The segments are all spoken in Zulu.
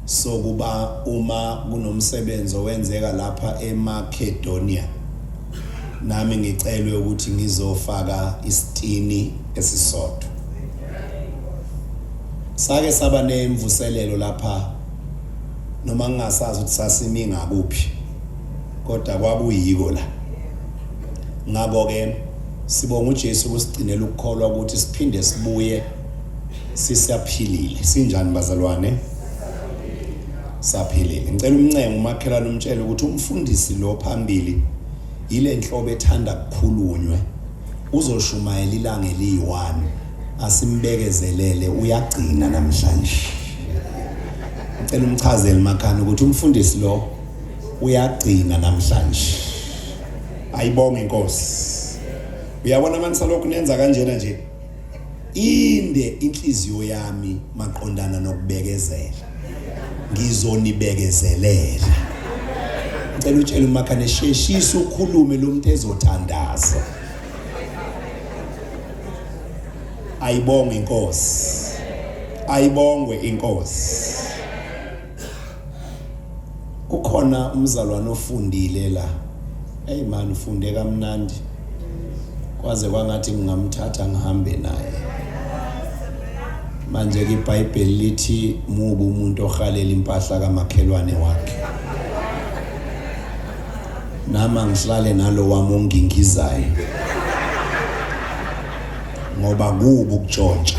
sokuba uma kunomsebenzi owenzeka lapha eMacedonia nami ngicelwe ukuthi ngizofaka isitini esisodwa sake saba nemvuselelo lapha noma ngingasazi ukuthi sasimi ngakuphi kodwa kwakuyiko la ngakho ke sibonga uJesu ukusigcinela ukukholwa ukuthi siphinde sibuye sisaphilile sinjani bazalwane saphilile ngicela umncengo umakhelwane umtshele ukuthi umfundisi lo phambili yile nhlobo ethanda kukhulunywe uzoshumayela ilanga eliyi-one asimbekezelele uyagcina namhlanje ngicela umchazele makhana ukuthi umfundisi lo uyagcina namhlanje ayibonge inkosi uyabona manje salokhu nenza kanjena nje Inde inhliziyo yami maqondana nokubekezela. Ngizonibekezelela. Ngicela utshele umakhane sheshisa ukhulume lo muntu ezothandaza. Ayibonge inkosi. Ayibongwe inkosi. Kukhona umzalwane ofundile la. Hey man ufunde kamnandi. Kwaze kwangathi ngingamthatha ngihambe naye. Manje ke iBhayibheli lithi mubu umuntu ohalela impahla kamakhelwane wakhe. Nama ngihlale nalo wami ongingizayo. Ngoba kubu ukutshontsha.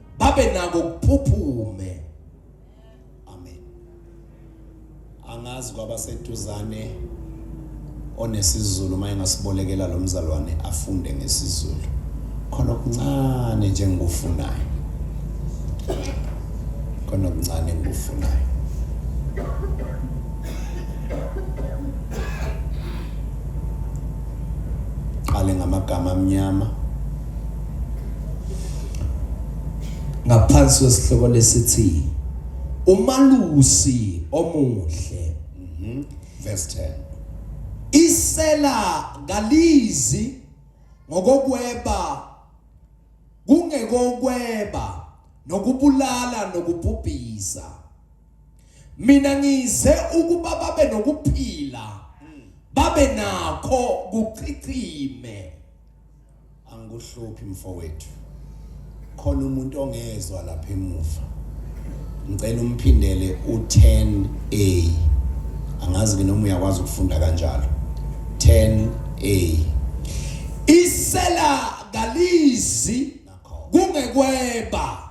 babe nako kuphuphume amen angazi kwabaseduzane onesizulu uma engasibolekela lo mzalwane afunde ngesizulu khona okuncane nje engikufunayo khona okuncane engikufunayo qale ngamagama amnyama ngaphansi kwesihloko lesithi umalusi omuhle mhm. verse 10 isela ngalizi ngokokweba kungekokweba nokubulala nokubhubhisa mina ngize ukuba babe nokuphila babe nakho kuchichime Angikuhluphi mfowethu. Khona umuntu ongezwa lapha emuva. Ngicela umphindele u10A. Angazi ke noma uyakwazi ukufunda kanjalo. 10A. Isela kalizi kungekweba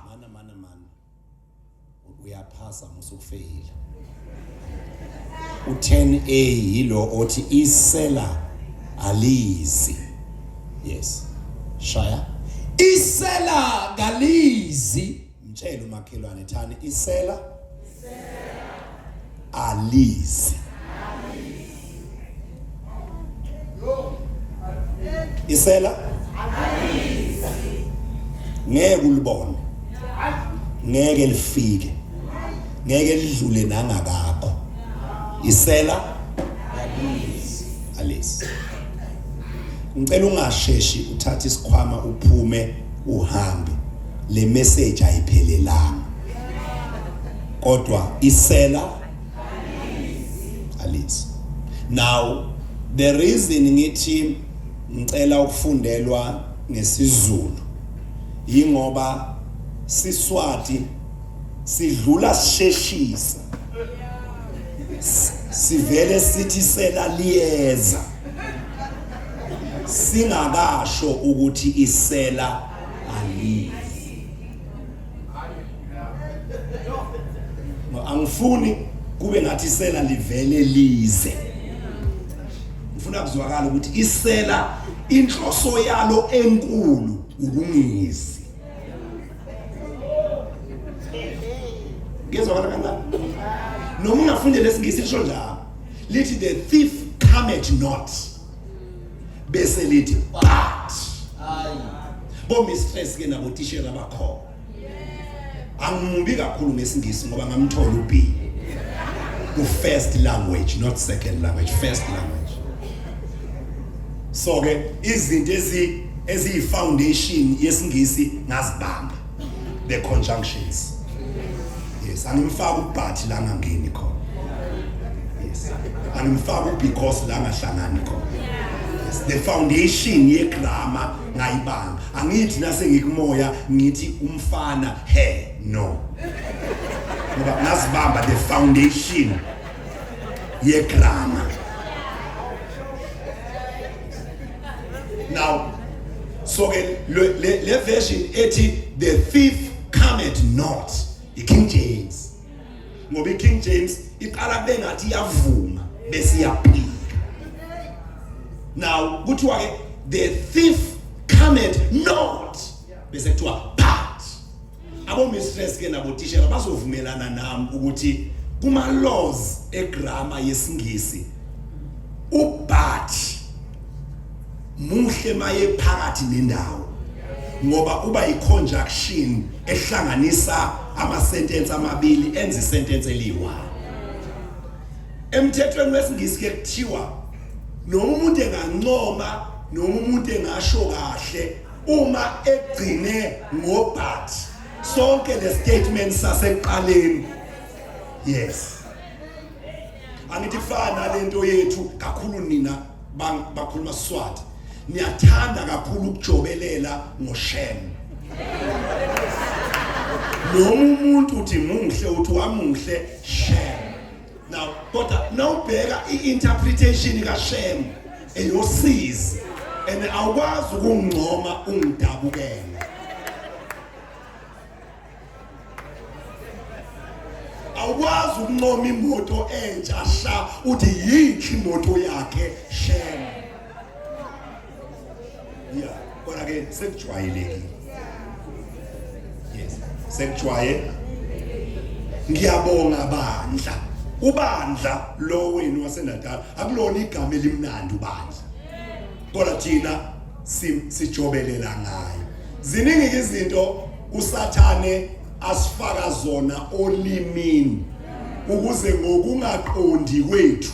uyaphasa musukufeyila u10a yilo othi isela alizi yes shaya isela kalizi mtshela umakhelwane thani isela isela alizi isela ngeke ulibone ngeke lifike ngeke lidlule nangakakho isela alizi ngicela ungasheshi uthathe isikhwama uphume uhambe le message ayiphelelanga kodwa isela alizi now the reason ngithi ngicela ukufundelwa ngesizulu yingoba siswati sidlula sisheshisa sivele sithi sela liyeza singakasho ukuthi isela aliyi angifuni kube ngathi isela livele lize ngifuna kuzwakala ukuthi isela inhloso yalo enkulu ukungizi ngizwa kana kana noma ungafundela isingisi lisho njalo lithi the thief cometh not bese lithi but hayi bo mistress ke nabo tishela bakhona angimubi kakhulu ngesingisi ngoba ngamthola uB ku first language not second language first language so ke izinto ezi eziyi foundation yesingisi ngazibamba the conjunctions yes angimfaka ubhathi la ngangeni khona yes angimfaka ubecause la ngahlangani khona yes the foundation yegrama ngayibanga angithi nase ngikumoya ngithi umfana he no ngoba nasibamba the foundation yegrama now so ke le le- le version ethi the thief cometh not i-king james ngoba i-king james iqala bengathi iyavuma bese iyaphika now kuthiwa-ke the thief cometh not bese kuthiwa but abomistress ke nabotishela bazovumelana nami ukuthi kuma-laws egrama yesingisi ubat muhle maye phakathi nendawo ngoba uba yiconjunction ehlanganisa amasentence amabili enza isentence eliwa emthethweni wesingisi ke kuthiwa noma umuntu engancoma noma umuntu engasho kahle uma egcine ngobhat sonke le statement sasekuqaleni yes angithi kufana lento yethu kakhulu nina bakhuluma Swati niyathanda kakhulu ukujobelela ngoshem noma umuntu uthi muhle uthi wamuhle shem now kodwa nawubheka i-interpretation kashem eyosizi and awukwazi ukungcoma ungidabukele awukwazi ukuncoma imoto entsha sha uthi yinhle imoto yakhe shem ya kodwa ke sekujwayelekile yes sekujwayelekile ngiyabonga bandla ubandla lo wenu waseNatal akulona igama elimnandi ubandla kodwa thina sijobelela ngayo ziningi izinto usathane asifaka zona olimini ukuze ngokungaqondi kwethu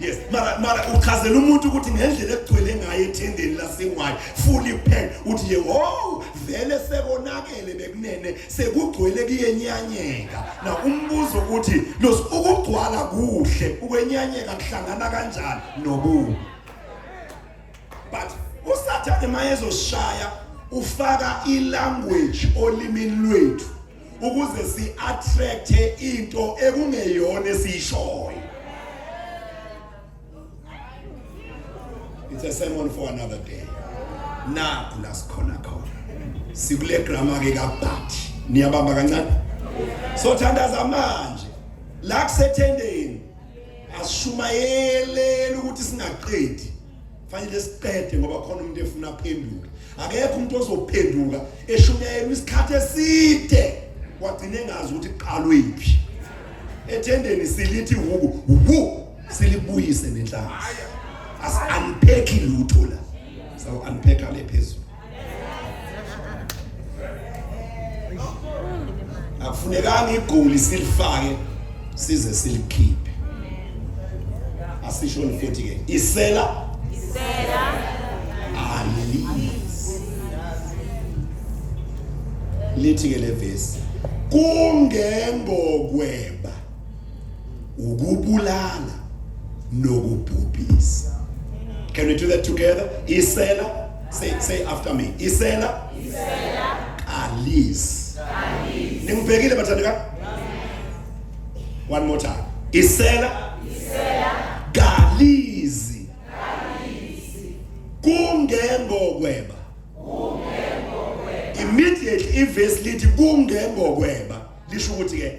yes mara mara uchazela umuntu ukuthi ngendlela ekugcwele ngayo ethendeni lasengwayo fully packed uthi yehow vele sekonakele bekunene sekugcwele kuyenyanyeka na umbuzo ukuthi los ukugcwala kuhle ukwenyanyeka kuhlangana kanjani nobubi but usathane mayezoshaya ufaka ilanguage olimini lwethu ukuze si attract into ekungeyona esishoyo it's a sermon for another day nakho la sikhona khona sikule grammar ke kabhathi niyabamba kancane so thandaza manje la kusethendeni asishumayelele ukuthi singaqedi fanele siqede ngoba khona umuntu efuna aphenduke akekho umuntu ozophenduka eshunyayelwa isikhathi eside wagcina engazi ukuthi kuqalwephi ethendeni silithi wuku wu silibuyise nenhlanhla asi unpack lutho la so unpack ale phezulu akufunekanga igoli silifake size silikhiphe asishoni futhi ke isela isela alisi lithi ke levesi kungengokweba ukubulala nokubhubhisa can we do that together isela say say after me isela isela kalis kalis ningibhekile bathanda ka one more time isela isela kalizi kalizi kungengokweba kungengokweba immediately ivesi lithi kungengokweba lisho ukuthi ke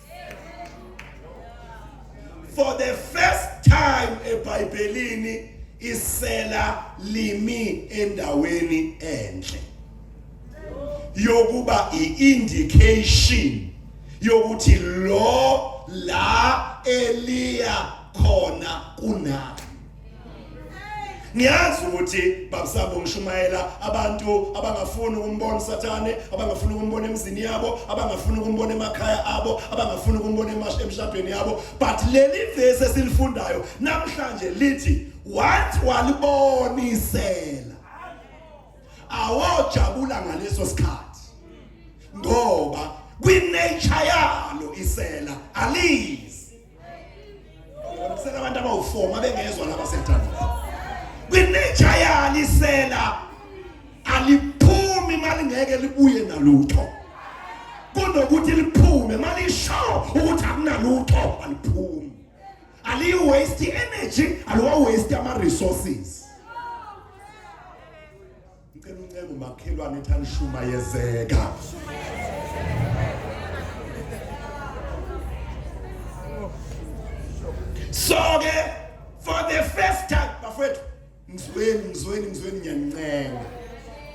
for the first time ebhayibhelini isela limi endaweni enhle yokuba iindication yokuthi lo la eliya khona kunani ngiyazi ukuthi babusabo ngishumayela abantu abangafuni ukumbona usathane abangafuni ukumbona emzini yabo abangafuni ukumbona emakhaya abo abangafuni ukumbona emshadweni yabo but leli vesi esilifundayo namhlanje lithi wathi walibonisela awojabula ngaleso sikhathi ngoba kwi-nature yalo isela aliyi Selabantu abawu-4 mabengezwa laba sentando. Kwinitsha yalisela aliphumi malingeke libuye nalutho. Kunokuthi liphume malisho ukuthi akunalutho aliphumi. Aliyi waste energy, aliwa waste ama resources. Ngicela uncenge umakhelwane ethi anishumayezeka. Soke for the first time bafethu ngizweni ngizweni ngizweni ngiyancenga.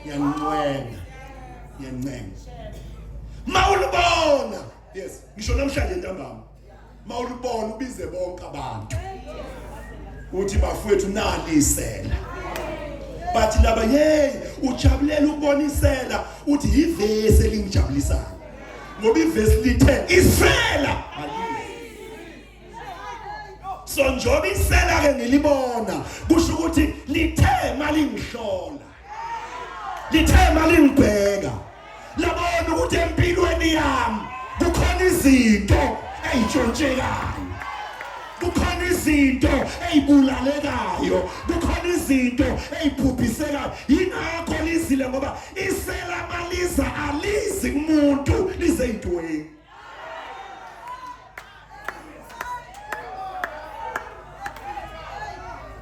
Ngiyancenga. Ngiyancenga. Mawulibona. Yes, ngisho namhlanje ntambama. mawulibona ubize bonke abantu uthi bafowethu nalisela bathi laba hey ujabulela ukubonisela uthi yivesi elingijabulisayo ngoba ivesi lithe isela so njoba isela ke ngilibona kusho ukuthi lithe malingihlola Lithe malingibheka labona ukuthi empilweni yami kukhona izinto eyitshontshekayo kukhona izinto ezibulalekayo kukhona izinto eziphuphisekayo yingakho lizile ngoba iselamaliza alizi kumuntu lizeyintweni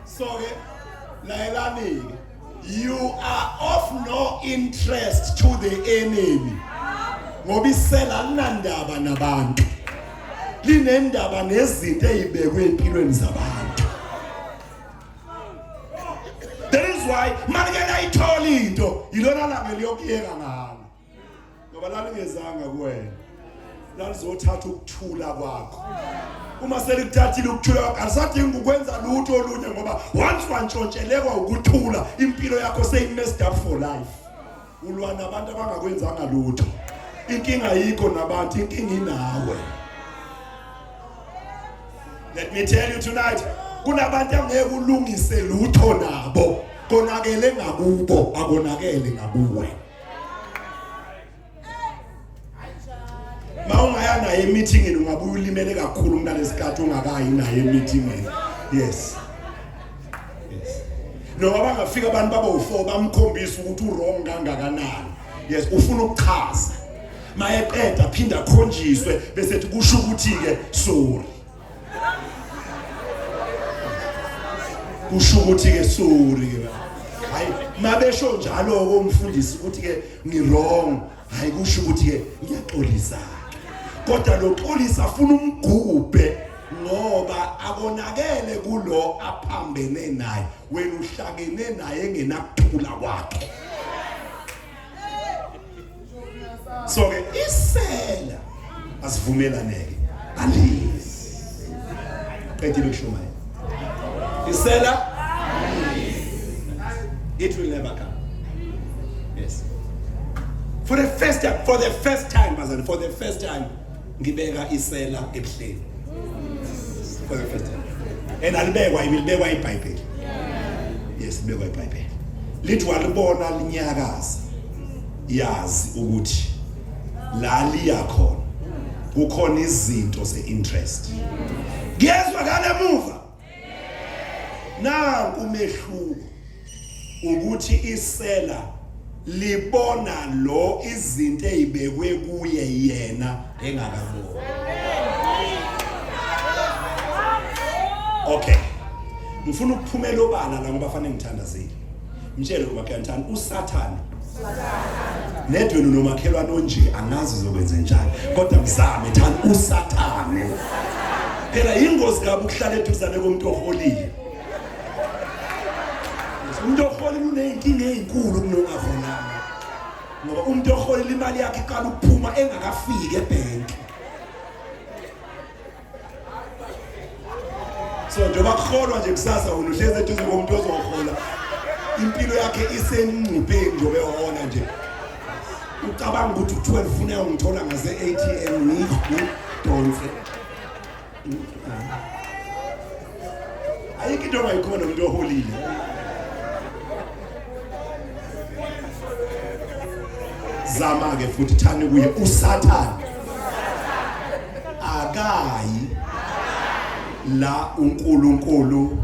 so ke layelani-ke you are of no interest to the enemy ngoba isela linandaba nabantu linendaba nezinto eyibekwe empilweni zabantu that is why malike layithola into yilona langa liyokuyeka ngalo ngoba lalingezanga kuwena lalizothatha ukuthula kwakho uma selikuthathile ukuthula kwakho alisadingi ukwenza lutho olunye ngoba once wantshontshelekwa ukuthula impilo yakho seyi-messed up for life ulwa nabantu abangakwenzanga lutho inkinga yikho nabantu inkinga inawe let me tell you tonight kunabantu angeke ulungise lutho nabo konakele ngakubo akonakele ngakuwe ma ungaya naye emithingini ungabuye ulimele kakhulu umntalesikhathi ungakayi naye emithingini yes noma bangafika abantu baba u4 bamkhombisa ukuthi uwrong kangakanani yes ufuna ukuchaza mayeqeda phinda khonjiswe bese kusho ukuthi ke sorry kusho ukuthi ke sorry ke hayi mabesho njalo ke umfundisi ukuthi ke ngi wrong hayi kusho ukuthi ke ngiyaxolisa kodwa loxolisa afuna umgubhe ngoba akonakele kulo aphambene naye wena uhlakene naye engenakuthula kwakhe so ke isela asivumelaneke alizi qedile ukushumayela isela it will never come yes for the first time for the first time bazali for the first time ngibeka isela ebuhleni for the first time and alibekwa ibilibekwa ibhayibheli yes libekwa ibhayibheli lithi walibona linyakaza yazi ukuthi la liya khona kukhona izinto ze-interest kuyezwakala emuva nanku umehluko ukuthi isela libona lo izinto ezibekwe kuye yena engakaboni okay ngifuna ukuphumela obala la ngoba fanele ngithandazile Mtshele umakhelwane usathane. Nedwenu nomakhelwane onje angazi uzokwenza njani kodwa mzame thana usathane. Phela ingozi kabi ukuhlala eduzane komuntu oholile. Umuntu ohola uneyinkinga ezinkulu kunokavona. Ngoba umuntu ohola imali yakhe iqala ukuphuma engakafiki ebhenki. so njengoba kuholwa nje kusasa wena uhlezi eduze komuntu ozohola impilo yakhe isengcupheni njengoba ehola nje ucabanga ukuthi u-12 funa ungithola ngase-atm ngidonse ayikho into ongayikhona umuntu oholile zama ke futhi thani kuye usathane akayi la uNkulunkulu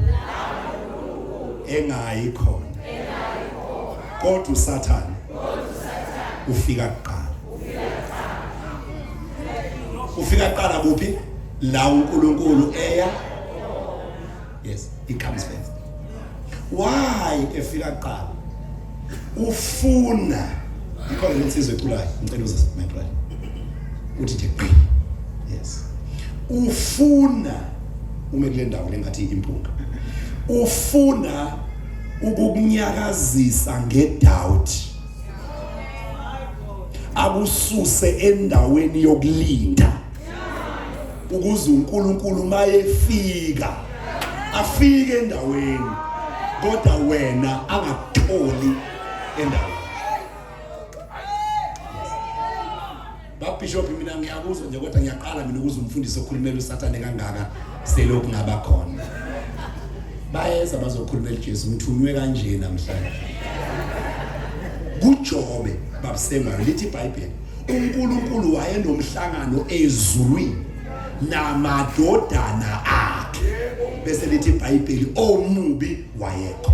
engayi khona kodwa usathane ufika kuqala ufika kuqala kuphi la uNkulunkulu eya yes he comes first why efika kuqala ufuna ikhona lensizwe ekhulayo ngicela uzise my brother uthi nje qi yes ufuna ume kule ndawo lengathi impunga ufuna ukukunyakazisa ngedoubt akususe endaweni yokulinda ukuze uNkulunkulu mayefika afike endaweni kodwa wena angakutholi endaweni bishop mina ngiyakuzwa nje kodwa ngiyaqala mina ukuze umfundisi okhulumela usathane kangaka selokhu ngaba khona bayeza bazokhulumela uJesu ngithunywe kanje namhlanje kujobe babusemayo lithi iBhayibheli uNkulunkulu wayenomhlangano ezulwini namadodana akhe bese lithi iBhayibheli omubi wayekho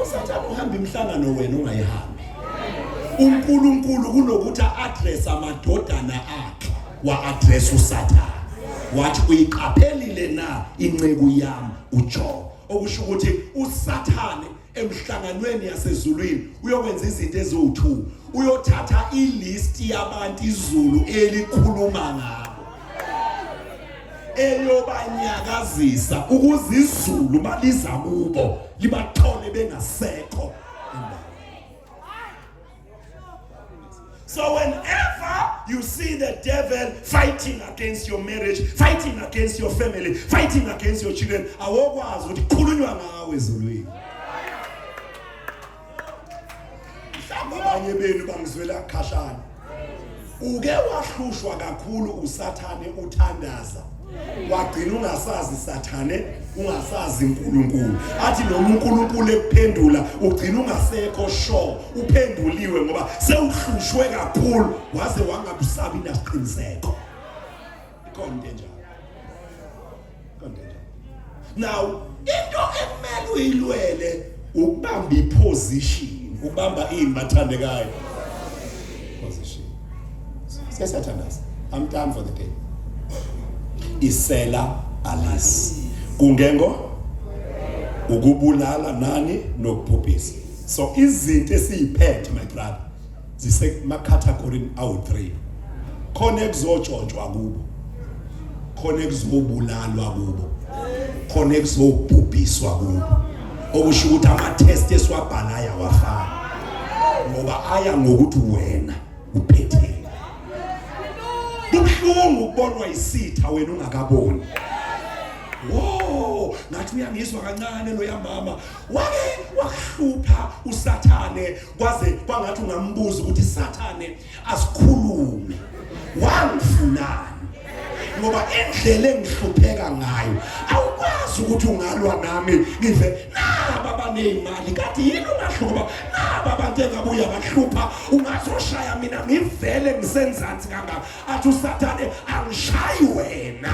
usathane uhamba imihlangano wena ungayihambi uNkulunkulu kunokuthi address amadodana akhe wa address usathane wathi uyiqaphelile na inceku yami uJobe okusho ukuthi usathane emhlanganweni yasezulwini uyokwenza izinto eziwu-two uyothatha ilisti yabantu izulu elikhuluma ngabo eyobanyakazisa ukuze izulu maliza kubo libathole bengasekho So whenever you see the devil fighting against your marriage, fighting against your family, fighting against your children, awokwazi ukuthi khulunywa ngawe ezulwini. Mhlawumbe abanye benu bangizwela khashana. Uke wahlushwa kakhulu uSathane uthandaza. Wagcina ungasazi Sathane, ungasazi uNkulunkulu. Athi noma uNkulunkulu ekuphendula, ugcina ungasekho sure uphenduliwe ngoba sewuhlushwe kakhulu waze wangakusabi nasiqiniseko. ikhona into enjalo ikhona into enjalo now into ekumele uyilwele ukubamba iposition ukubamba ini bathandekayo position sesathandaza i'm done for the day isela alis kungengo ukubulala nani nokuphuphisa so izinto esiyiphethe my brother zisemakhathagorini awu-3 khona ekuzotshontshwa kubo khona ekuzobulalwa kubo khona ekuzobhubhiswa kubo okusho ukuthi ama-test esiwabhala ayawafana ngoba aya ngokuthi wena uphetheni buhlungu ukubonwa isitha wena ungakaboni wo ngathi uyangizwa kancane loya mama wake wahlupha usathane kwaze kwangathi ungambuza ukuthi sathane asikhulume wangifunani ngoba indlela engihlupheka ngayo awukwazi ukuthi ungalwa nami ngize naba abaneyimali kade yini ungahluba naba abantu engabuya bahlupha ungazoshaya mina ngivele ngisenzansi kangaka athi usathane angishayi wena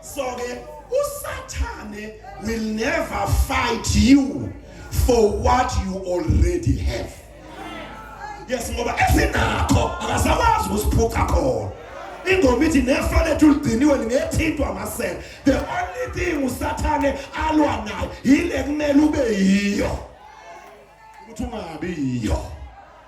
so ke usathane will never fight you for what you already have yes ngoba esinakho akasakwazi ukusiphuca khona ingoma ithi nefa lethu ligciniwe lingethintwa amasela the only thing usathane alwa nayo yile kumele ube yiyo ukuthi ungabi yiyo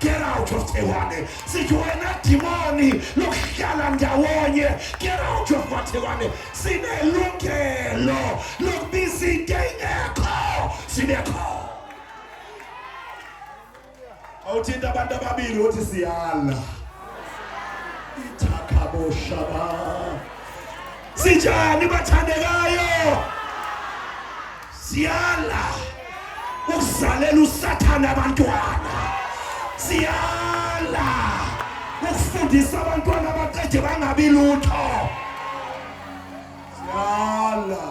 Get out of Tewane. Sithi wena dimoni lokuhlala ndawonye. Get out of Tewane. Sinelungelo lokubiza into engekho. Sinekho. Awuthinta abantu ababili uthi siyala. Ithakabo shaba. Sinjani bathandekayo? Siyala ukuzalela usathane abantwana. Siyala ukufundisa abantwana abaqede bangabi lutho. Siyala.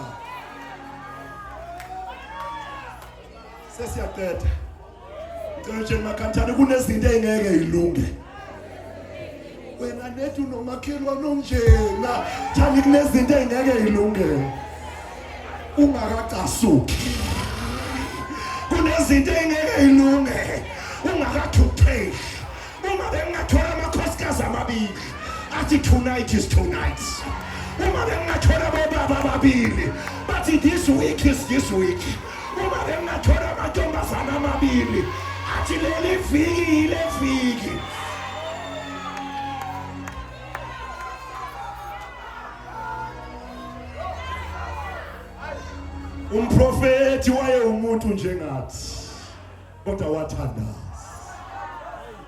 Sesiyaqeda. Ngicela nje makhathane kunezinto engeke ilunge. Wena nethu nomakhelwane onjena, thani kunezinto engeke ilunge. Ungakacasuki. Kunezinto engeke ilunge. Ungakathutheki. Uma bengingathola amakhosikazi amabili athi tonight is tonight. Uma bengingathola bobaba ababili bathi this week is this week. Uma bengingathola amantombazana amabili athi leli viki yile viki. umprofethi wayewumuntu njengathi kodwa wathandaza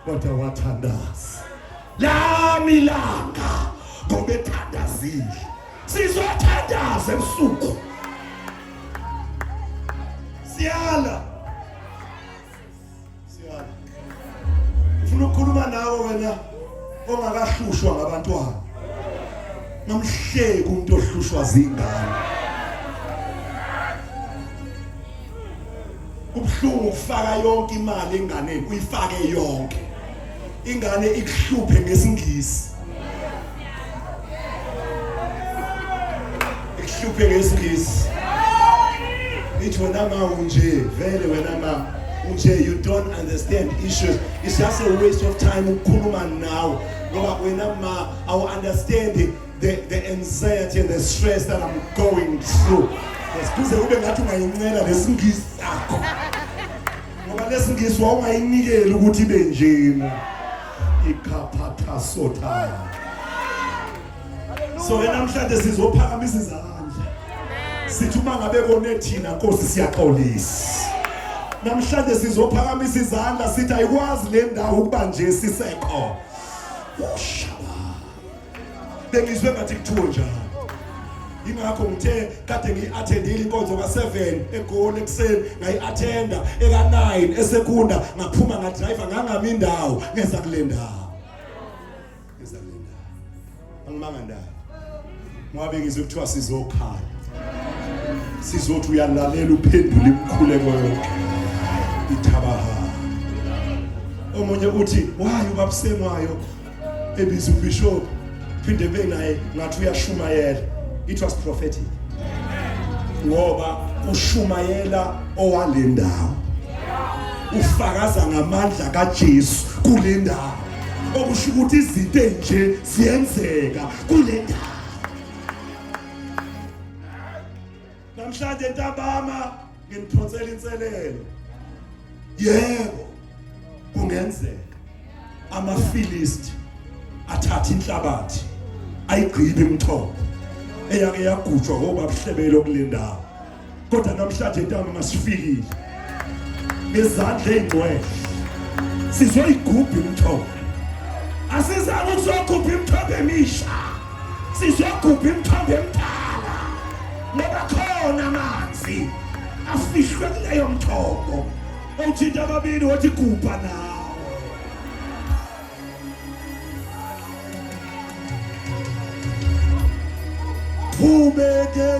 kodwa wathandaza lami ilanga ngoba ethandazile sizothandaza ebusuku siyala siyala ufuna ukukhuluma nawe wena ongakahlushwa ngabantwana nomhleki umuntu ohlushwa zingane Kubuhlungu ukufaka yonke imali enganeni uyifake yonke. Ingane ikuhluphe ngesingisi. Ikuhluphe ngesingisi. Ithi wena ma unje vele wena ma unje you don't understand issues. It's just a waste of time ukukhuluma nawe ngoba wena ma awu understand the, the anxiety and the stress that I'm going through kuze kube ngathi ungayincela lesingisi sakho ngoba lesingisi wawungayinikeli ukuthi ibe njena ikhaphatha sothaya so ke namhlanje sizophakamisa izandla sithi uma ngabe kone thina nkosi siyaxolisa namhlanje sizophakamisa izandla sithi ayikwazi le ndawo ukuba nje sisekho usha bengizwe ngathi kuthiwe njalo ingakho ngithe kade ngiyi-athendile inkonzo ka-seven egoli ekuseni ngayi-athenda eka-nine esekunda ngaphuma ngadrayiva ngangami indawo ngeza kule ndawo ngeza kule ndawo angimanga ndawo ngoba bengizwe kuthiwa sizokhala sizothi uyalalela uphendule imikhuleko yonke ithabaha omunye uthi wayo ubabusengwayo ebiza ubishop phinde benaye ngathi uyashumayela it was prophetic ngoba ushumayela owalendawo ufakaza ngamandla kaJesu kulendawo okusho ukuthi izinto enje ziyenzeka kulendawo Namhlanje ntambama nginiphonsela inselelo. Yebo. Kungenzeka amaFilisti athatha inhlabathi ayigqibe imithombo eyake yagujwa ngobabuhlebelo kulendawo. Kodwa namhlanje ntambama sifikile. ngezandla ey'ngcwele sizoyigubha imithombo asizange ukuzokhupha imithombo emisha sizokhupha imithombo emdala ngoba khona amanzi afihlwe kuleyo mthombo owuthinta ababili wothi gubha nawo Who made the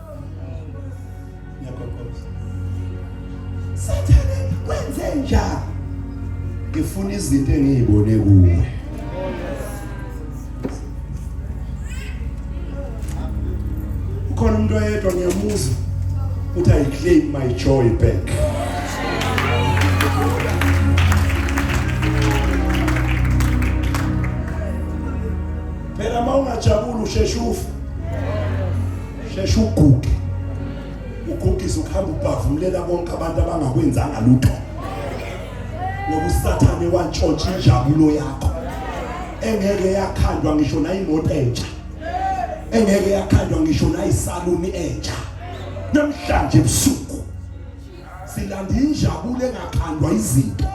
Ngiyagogoza. Sathane kwenze njani? Ngifuna izinto engiyibone kuwe. Ukhona umuntu oyedwa ngiyamuzwa ukuthi I claim my joy back. Phela mawungajabula usheshe ufe. sheshe uguge ugugise ukuhamba ubhavumulela bonke abantu abangakwenzanga lutho ngoba usathane wantshontsha injabulo yakho engeke yakhandwa ngisho nayimoto entsha engeke yakhandwa ngisho nayisaluni entsha namhlanje ebusuku silanda injabulo engakhandwa izinto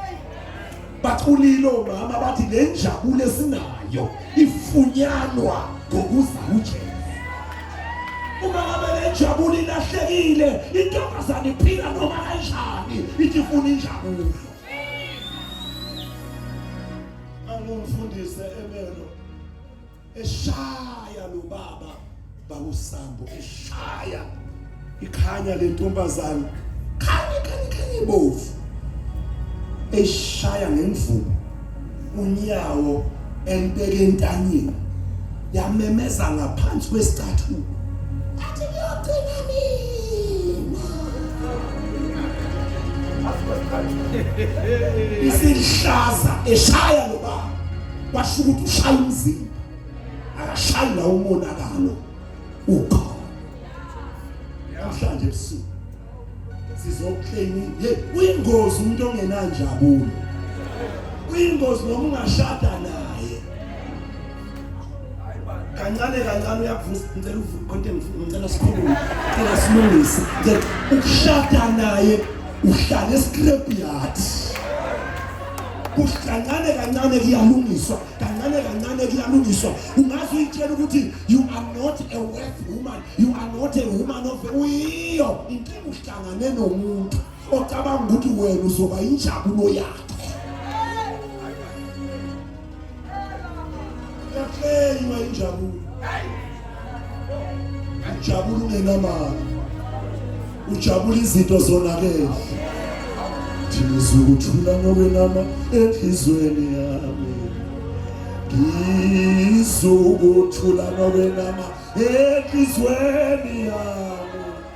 baculile omama bathi le njabulo esinayo ifunyanwa ngokuza uJesu uma ngabe le njabulo ilahlekile intombazane iphila noma kanjani ithi ifuna injabulo angumfundise emelo eshaya lo baba bakusambo eshaya ikhanya le ntombazane khanye khanye khanye ibovu eshaya ngemvubu unyawo empeke entanyeni yamemeza ngaphansi kwesithathu athi kuyogcina mina isihlaza eshaya lo baba kwasho ukuthi ushaya umzimba akashayi la umonakalo ukhona namhlanje ebusuku sizokleni ye uyingozi umuntu ongenanjabulo uyingozi noma ungashada naye kancane kancane uyavusa ngicela uvukonte ngicela sikhulume ngicela silungise ukushada naye uhlale escrap yard kancane kancane kuyalungiswa kancane kancane kuyalungiswa ungaze uyitshela ukuthi you are not a worth woman you are not a woman of uyiyo inkinga uhlangane nomuntu ocabanga ukuthi wena uzoba injabulo yakhe Yakleywa injabulo. Ujabula ungenamali. Ujabula izinto zonakele. Thina sizokuthula nokwenama enhlizweni yami. Ngizokuthula nokwenama enhlizweni yami.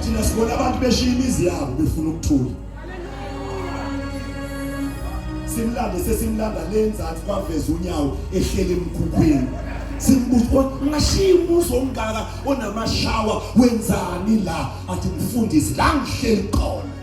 thina sibona abantu beshiya imizi yabo befuna ukuthula simlande sesimlanda le nzansi kwaveza unyawo ehlele emkhukhwini simbuza ungashiya umuzi omngaka onamashawa wenzani la athi mfundisi la ngihleli khona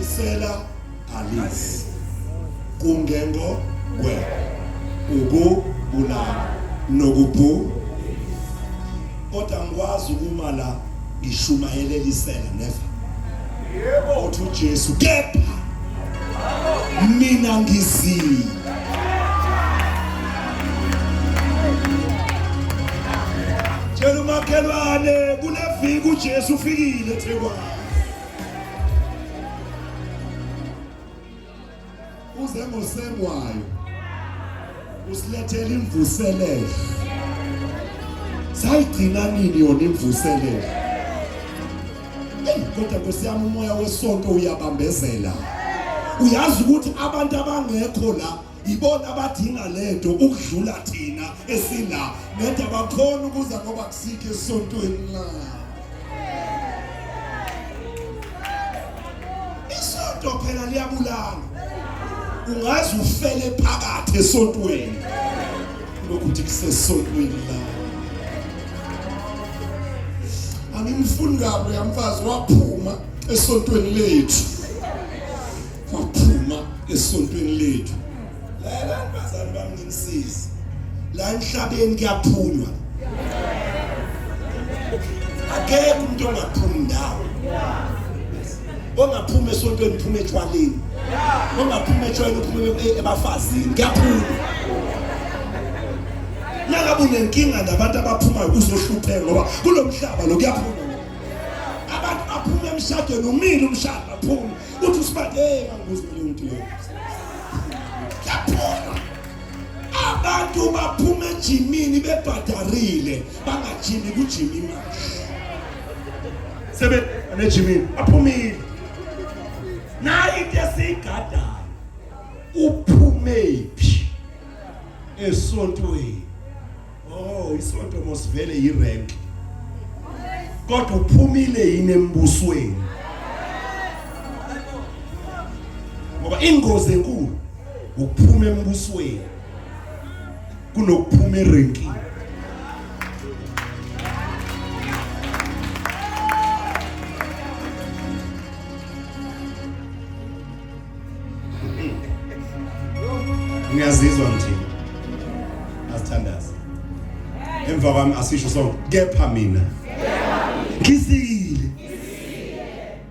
isela alizi kungengo kwe ukubulala nokubhu kodwa ngikwazi ukuma la ngishumayelelisela neva yebo uthi uJesu kepha mina ngizile tshela umakhelwane kuneviki ujesu ufikile thekwane uze ngosengwayo usilethela imvuselelo sayigcina nini yona imvuselelo kodwa nkosi yami umoya wesonto uyabambezela uyazi ukuthi abantu abangekho la ibona abadinga lento ukudlula thina esila nede abakhona ukuza ngoba kusikho esontweni la isonto phela liyabulala ungaze ufele phakathi esontweni lokuthi kusesonweni la angimfuni kabi uyamfazi waphuma esontweni lethu waphuma esontweni lethu lela bazali bami ngimsizi la emhlabeni kuyaphulwa akekho umuntu ongaphumi ndawo ongaphuma esontweni phuma etshwaleni ongaphuma etshwaleni uphume e- ebafazini kuyaphuma nangabe unenkinga nabantu abaphumayo uzohlupheka ngoba kulo mhlaba lo kuyaphuma abantu baphume emshadweni umile umshado baphume uthi usibade hey nganguzimile umuntu lo kuyaphuma abantu baphume ejimini bebhadarile bangajimi kujima imali sebe nejimini aphumile nayi into esiyigadayo uphumephi esontweni oh isonto mosivele yirank kodwa uphumile yini embusweni ngoba ingozi enkulu ukuphuma embusweni kunokuphuma irenki ngiyazizwa ngithini asithandaze emva kwami asisho sonke kepha mina ngizile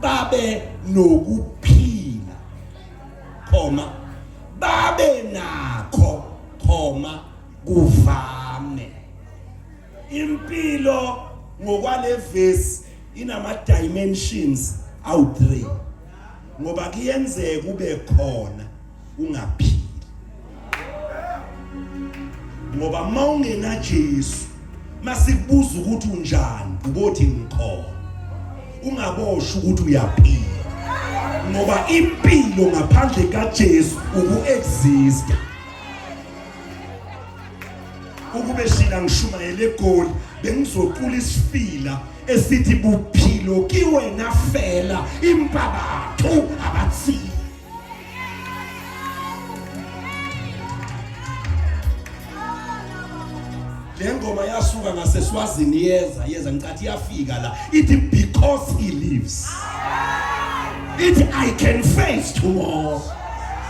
babe nokuphila khoma babe nakho khoma kuvame impilo ngokwalevesi inama dimensions awu3 ngoba kuyenzeka ube khona ungaphili ngoba uma ungena Jesu masikubuza ukuthi unjani ubothi ngikhona ungabosha ukuthi uyaphila ngoba impilo ngaphandle kaJesu ukuexista ukube shila ngishumayele egoli bengizoqula isifila esithi buphilo kiwena fela impabathu abathile le ngoma yasuka ngaseswazini yeza yeza ngicathi yafika la ithi because he lives ithi i can face tomorrow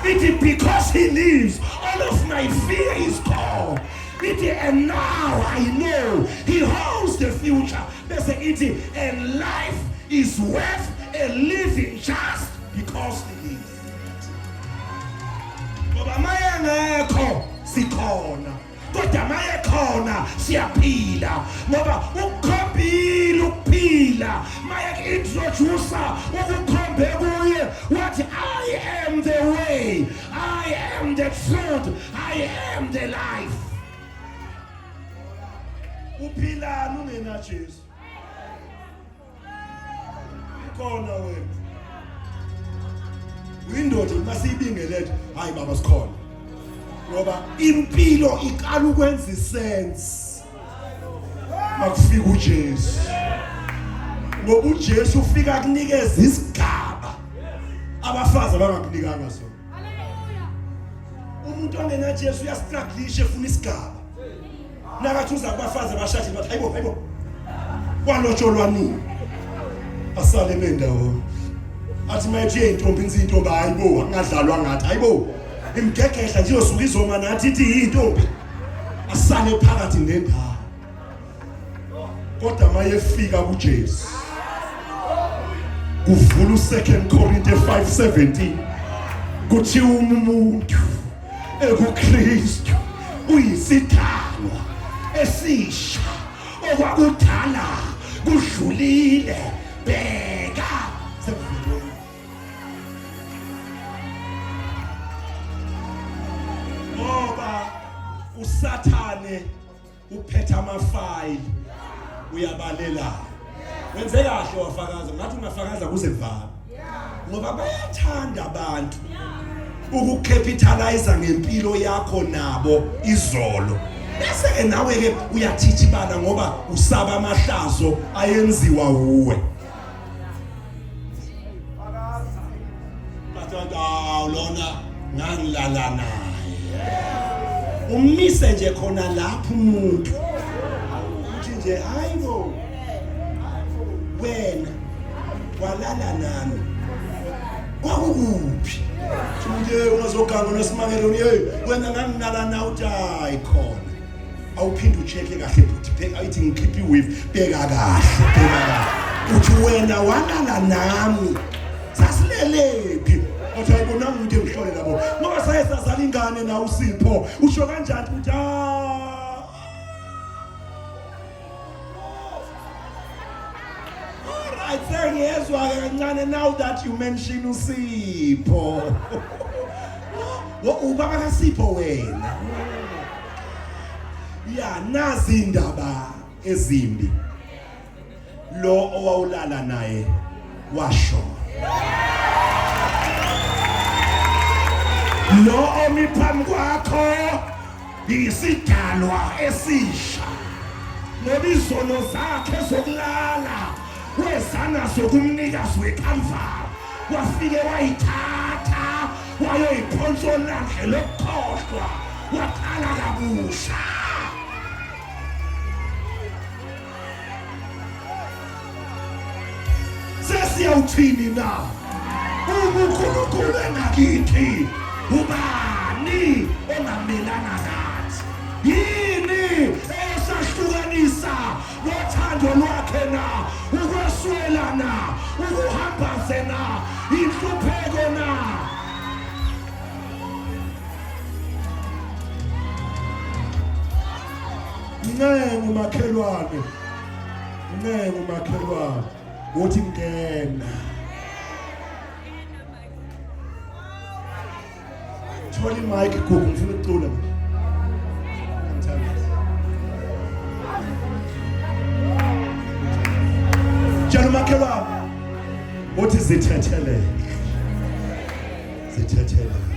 ithi because he lives all of my fear is gone ithi and now i know he holds the future bese ithi and life is worth a living just because he lives ngoba maye ngekho sikhona kodwa maye khona siyaphila ngoba ukukhombile ukuphila maye introduce ukukhombe kuye wathi i am the way i am the truth i am the life uphilani ungenajesu khona wena uyindoda uma siyibingelethe hayi baba sikhona ngoba impilo iqala ukwenza isense makufika uJesu ngoba uJesu ufika kunikeza isigaba abafazi abangakunikanga sona umuntu ongenaJesu uyastruglisha efuna isigaba nakathi uza kubafazi abashashe bathi hayibo hayibo kwalotsholwa nini asale bendawo athi mayethi yeyintombi inzi intombi hayibo angadlalwa ngathi hayibo imgegehla nje yosuka izoma nathi ithi yintombi asale phakathi nendawo kodwa mayefika kuJesu kuvula uSecond Corinthians 5:17 kuthiwa umuntu EkuKristu uyisidalwa esisha okwakudala kudlulile bheka ngoba usathane uphetha amafayili uyabalela wenze kahle wafakaza ngathi ungafakaza kuze vana ngoba bayathanda abantu ukucapitalize ngempilo yakho nabo izolo bese ke nawe ke uyathithibana ngoba usaba amahlazo ayenziwa wuwe lona ngangilala naye umise nje khona lapho umuntu uthi nje hayi bo wena walala nami kwakukuphi nje ungazoganga unesimangelo hey wena nganginala nawe uthi hayi khona awuphinde ucheck kahle futhi phela ayithi ngikhipha iwave bheka kahle bheka kahle uthi wena walala nami sasilelephi athi ayibonanga ukuthi ngihlole labo ngoba saye sazala ingane na usipho usho kanjani ukuthi ah Alright, sengiyezwa kancane now that you mention uSipho. Wo ubaba kaSipho wena. Ya nazi indaba ezimbi. Lo owawulala naye washo. Lo omiphambi kwakho Ngiyisidalwa esisha ngoba izono zakhe zokulala wezana zokumnikazi wekamvalo wafike wayithatha wayoyiphonsa olwandle lokukhohlwa waqala kabusha sesiyawuthini na ubukhulukhulu engakithi ubani ongamelana nathi yini eyesahlukanisa nothando lwakhe na ukweswela na ukuhambaze na inhlupheko na Ncengu makhelwane. Ncengu makhelwane. Uthi ngena. Thola i-mic gugu ngifuna ukucula. Tshela umakhelwane. Uthi zithetheleke. Zithetheleke.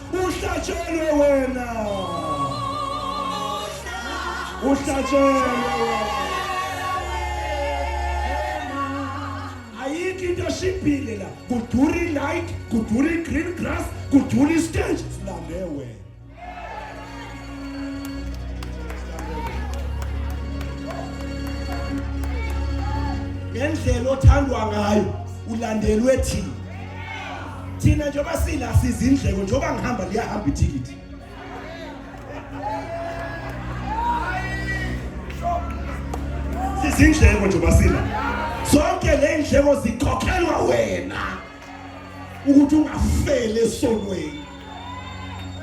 uhlatshelwe wena uhlatshelwe ayikho into eshibhile la kudura i-light kudura i-green grass kudura i-stage silande wena ngendlela othandwa ngayo ulandelwe thina thina njengoba sila sizindleko njengoba ngihamba liyahamba ithikithi sizindleko njengoba sila zonke le ndleko zikhokhelwa wena ukuthi ungafeli esonweni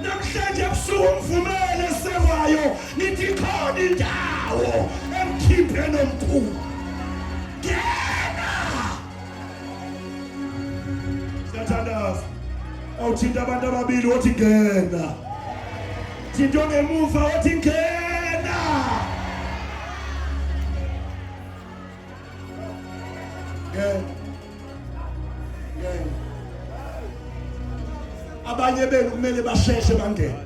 namhlanje ebusuku umvumele esekwayo nithi khona indawo emkhiphe nomkhulu ngena siyathandaza awuthinta abantu ababili wothi ngena thinto ngemuva wothi ngena ngeke ngeke abanye benu kumele basheshe bangene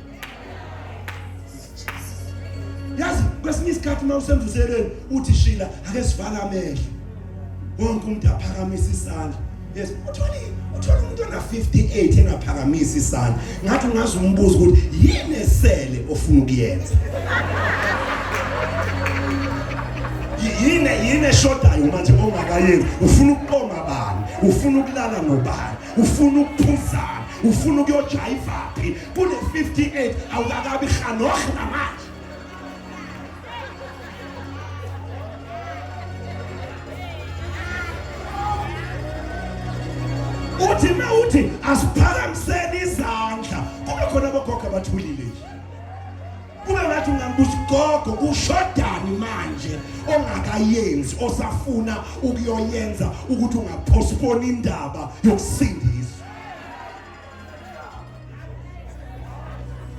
yazi kwesinye isikhathi uma usemvuselweni uthi shila ake sivale amehlo wonke umuntu aphakamisa isandla Yes, uthole uthole umuntu ona 58 engaphakamisi isandla. Ngathi ungazi umbuzo ukuthi yini esele ofuna ukuyenza. Yini yini eshodayo manje ongakayenzi? Ufuna ukuqoma bani? Ufuna ukulala nobani? Ufuna ukuphuzana? Ufuna ukuyojayivaphi? Kule 58 awukakabi khanoh namanje. uthi uma uthi asiphakamiseni izandla kube khona abogogo abathulile nje kube ngathi ungambuza gogo ushodani manje ongakayenzi osafuna ukuyoyenza ukuthi ungapostpone indaba yokusindiswa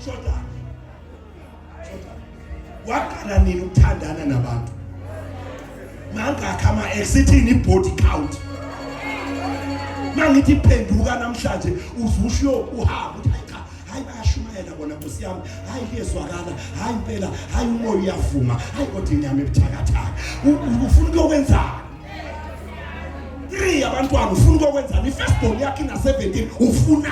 shodani waqala nini ukuthandana nabantu mangakha ama exithini ibody count mangithi phenduka namhlanje uzusho uhamba uthi hayi cha hayi bayashumayela bona nkosi yami hayi kuyezwakala hayi impela hayi umoya uyavuma hayi kodwa inyama ebuthakathaka ufuna ukuyokwenzani three abantwana ufuna ukuyokwenzani i-first born yakhe ina-17 ufuna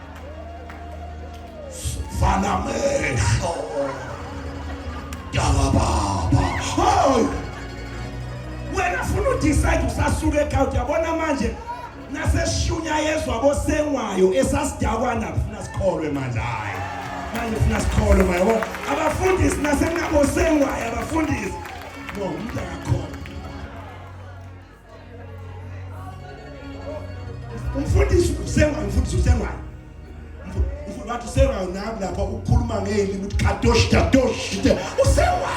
Vala amehlo. Dala baba. Hayi. Wena funa udecide usasuka ekhaya uyabona manje naseshunya yezwa bosengwayo esasidakwana kufuna sikholwe manje hayi. Manje funa sikholwe manje yabo. Abafundisi nasenabosengwayo abafundisi. No, umntana umfundisi usengwa umfundisi usengwa umfundisi wathi usengwa nami lapha ukukhuluma ngeli ukuthi kadosh kadosh usengwa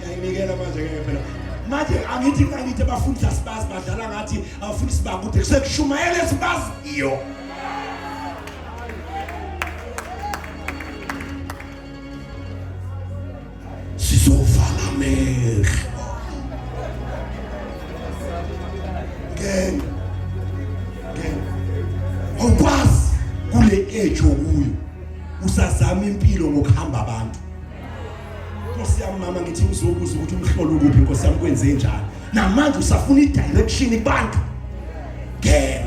yayinikela manje ke phela manje angithi kangithi abafundisi asibazi badlala ngathi abafundisi bakude kusekushumayela esibazi iyo sizovala amehlo ngeke ngeke awukwazi kule age okuyo usazama impilo ngokuhamba abantu Nkosi yami mama ngithi ngizobuza ukuthi umhlolo ukuphi Nkosi yami kwenze njani namanje usafuna i-direction kubantu ngeke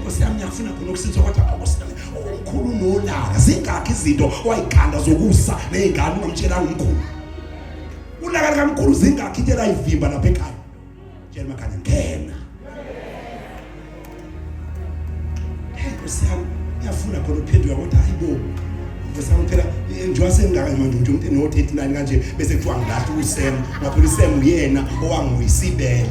Nkosi yami ngiyafuna khona ukusitha kodwa Nkosi yami umkhulu nolaka zingakho izinto wayikhanda zokusa nezingane ungamtshela umkhulu ulaka likamkhulu zingakho into elayivimba lapha ekhaya tshela makhanya ngena hey Nkosi yami ngiyafuna khona ukuphenduka kodwa hayibo Nkosi yami phela njengoba sengaka manje umuntu umuntu no 39 kanje bese kuthiwa ngilahle uSem ngaphela uSem uyena owangiwisibele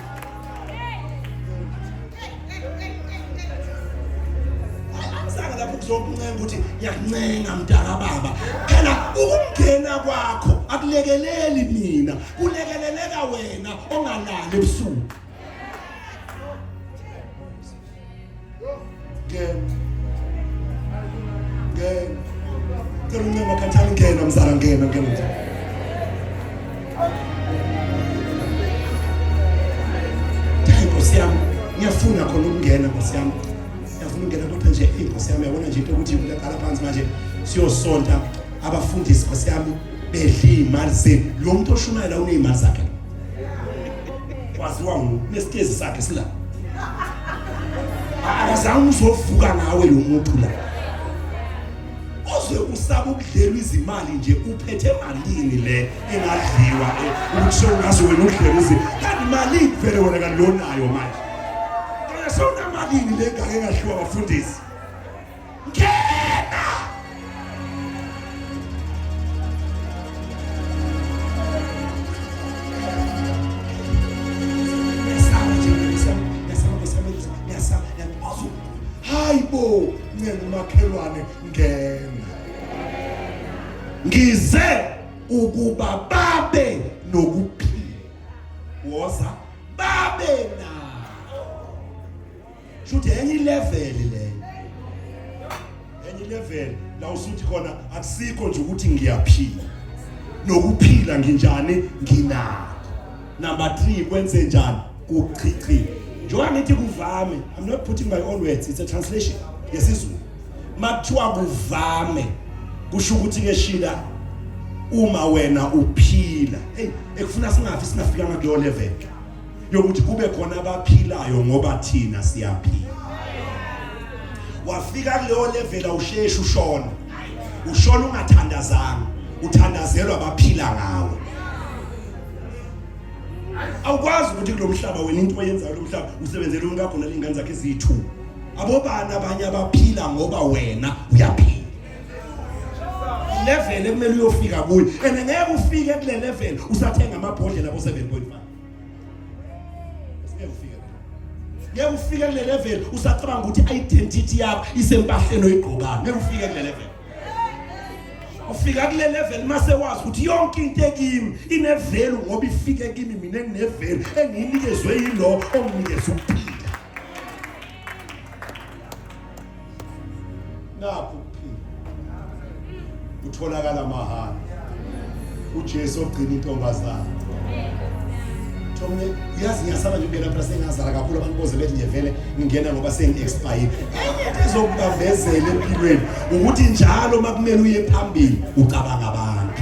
zokuncenga ukuthi ngiyakuncenga mntaka baba phela ukungena kwakho akulekeleli mina kulekeleleka wena ongalali ebusuku ngiyafuna khona ukungena nkosi yami ngiyafuna ukungena kodwa nje eyi nkosi yami yabona nje into ukuthi ngiyaqala phansi manje siyosonta abafundisi nkosi yami bedla iy'mali zenu lo muntu oshumayela uney'mali zakhe waziwa ngesikezi sakhe sila akazange uzovuka nawe lo muntu la uze usaba ukudlelwa izimali nje uphethe malini le engadliwa eh, ukusho ngazo wena udlelwa izi kanti malini vele wena kanti lonayo manje kanti sewunamalini le ngake ngadliwa bafundisi Ngena! Hayibo, ncenga umakhelwane ngena. Ngize ukuba babe nokuphila. Woza babe na shuthi enye ilevel leyo enye ilevel la usuthi khona akusikho nje ukuthi ngiyaphila nokuphila nginjani nginako number 3 kwenze njani kuchichi njengoba ngithi kuvame i'm not putting my own words it's a translation yesizulu makuthiwa kuvame kusho ukuthi ke shila uma wena uphila hey ekufuna singafi singafikanga kuyo level yokuthi kube khona abaphilayo ngoba thina siyaphila wafika kuleyo level awusheshi ushona ushona ungathandazanga uthandazelwa abaphila ngawe awukwazi ukuthi kulomhlaba wena into oyenzayo lomhlaba usebenzele umuntu akho nalengane zakhe ezithu abobani abanye abaphila ngoba wena uyaphila level ekumele uyofika kuyo and ngeke ufike kule level usathenga amabhodlela bo 7.5 ngeke ufike kule level usacabanga ukuthi identity yakho isempahleni oyigqokayo ngeke ufike kule level ufika kule level mase wazi ukuthi yonke into ekimi inevelu ngoba ifike kimi mina nginevelu engiyinikezwe yilo onginikeza ukuphila nakho ukuphila kutholakala mahhala uJesu ogcina intombazana Thomne uyazi ngiyasaba nje kuyena phela sengazala kakhulu abantu boze bethi nje vele ngingena ngoba sengi-expire enye into ezokubambezela empilweni ukuthi njalo uma kumele uye phambili ucabanga abantu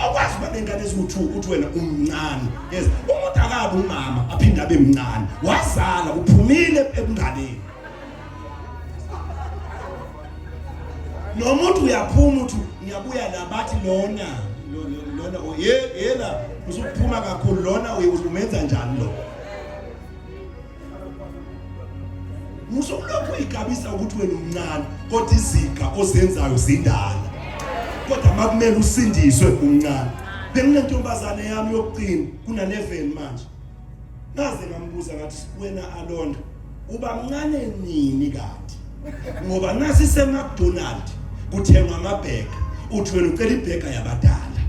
awukwazi uba nengane eziwu-two ukuthi wena umncane yes umuntu akabe umama aphinde abe mncane wazala uphumile ebunganeni nomuntu uyaphuma uthi ngiyabuya la bathi lona lona yela usuphuma kakhulu lona umenza njani lo usolokhu uyigabisa ukuthi wena umncane kodwa iziga ozenzayo zindala kodwa makumele usindiswe umncane benginentombazane yami yokucina kuna-11 manje ngaze ngambuza ngathi wena alonda uba mncane nini kanti ngoba nasi seMcDonald kuthengwa amabheka uthi wena ucela ibheka yabadala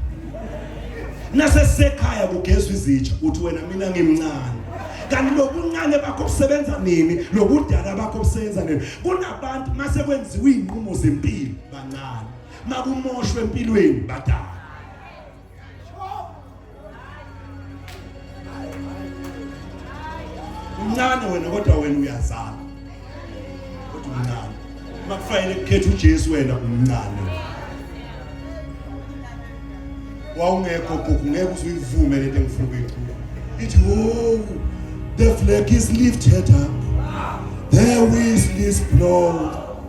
nase sekhaya kugezwa izitsha uthi wena mina ngimncane kanti lobuncane bakho kusebenza nini lobudala bakho kusebenza nini kunabantu mase kwenziwa izinqumo zempilo bancane makumoshwe empilweni badala Mncane wena kodwa wena uyazama. Kodwa mncane. Makufanele kukhethe uJesu wena umncane. Wawungekho gogo ngeke usuyivume lento engifuna ukuyikhuluma. Ithi oh the flag is lifted up. There is this blood.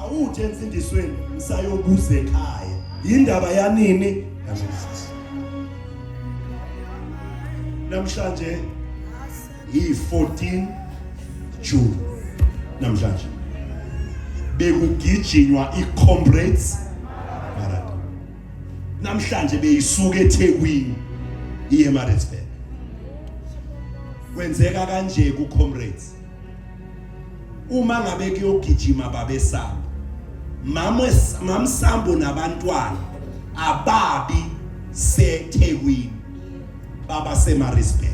awuthi emfundisweni ngisayobuza ekhaya yindaba yanini kaJesus namhlanje yi-14 June namhlanje bekugijinywa i-Comrades namhlanje beyisuka eThekwini iye Maritzburg kwenzeka kanje ku comrades uma ngabe kuyogijima babesaba mama mamsambo nabantwana ababi seThekwini baba seMaritzburg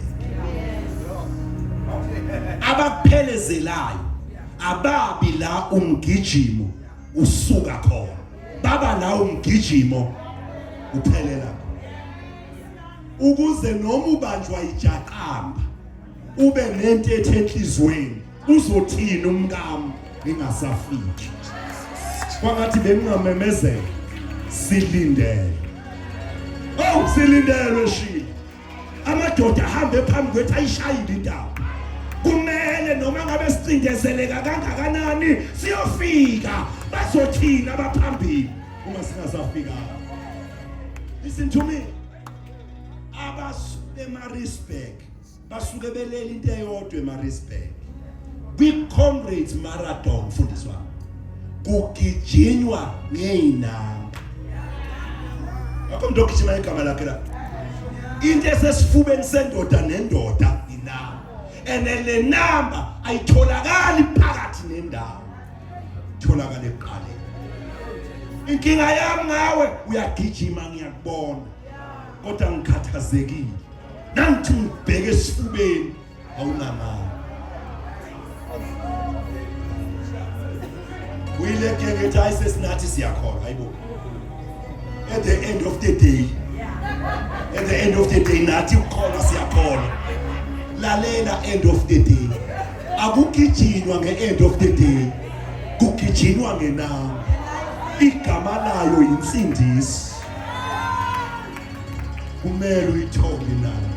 abakuphelezelayo ababi la umgijimo usuka khona baba nawo umgijimo uphelela ukuze noma ubanjwa ijaqamba ube nento ethe enhlizweni uzothini umkami ningasafiki kwangathi bengingamemezela silindele oh silindelwe shilo amadoda ahambe phambi kwethu ayishayile indawo kumele noma ngabe sicindezeleka kangakanani siyofika bazothina abaphambili uma singasafika listen to me abasemarisburg basuke belele into eyodwa emarisburg kwi-comrades marathon mfundisi wami kugijinywa ngey'namba akho mntu ogijima igama lakhe la into esesifubeni sendoda nendoda inamba and le namba ayitholakali phakathi nendawo itholakala ekuqaleni inkinga yami ngawe uyagijima ngiyakubona kodwa ngikhathazekile nangithi ngibheke esifubeni awunamali uyilegenge ethi hayi sesinathi siyakholwa hayibo at the end of the day at the end of the day nathi ukholwa siyakholwa lalela end of the day akugijinwa nge-end of the day kugijinwa ngenanga igama layo yinsindiso kumele uyithole nayo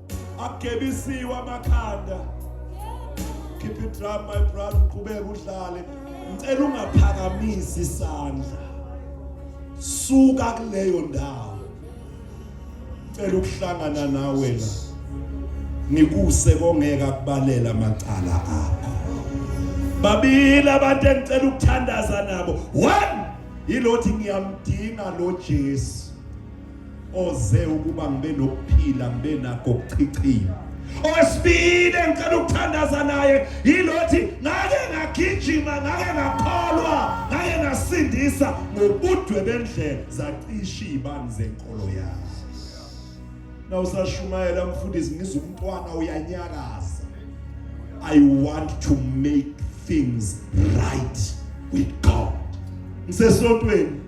agebisiwe amakhanda keep it drum my brother uqhubeka udlale ngicela ungaphakamisi isandla suka kuleyo ndawo ngicela ukuhlangana nawe la ngikuse kongeka kubalela amacala akho babili abantu engicela ukuthandaza nabo one yilothi ngiyamdinga lo Jesu oze ukuba ngibe nokuphila ngibe nakho kuchichima owesibili engicela ukuthandaza naye yilothi ngake ngagijima ngake ngakholwa ngake ngasindisa ngobudwe bendlela zacisha iy'bani zenkolo yami na usashumayela mfundisi ngizwa umntwana uyanyakaza i want to make things right with god ngisesontweni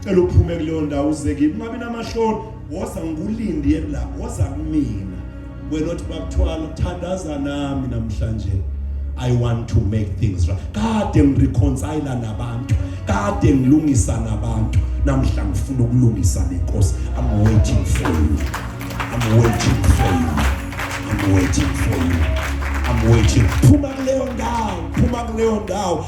cela uphume kuleyo ndawo uze kimi ungabi namashoni woza ngikulindie la woza kumina wena othi bakuthwala thandaza nami namhlanje I want to make things right kade ngireconcile nabantu kade ngilungisa nabantu namhla ngifuna ukulungisa nenkosi I'm waiting for you I'm waiting for you I'm waiting for you I'm waiting phuma kuleyo ndawo phuma kuleyo ndawo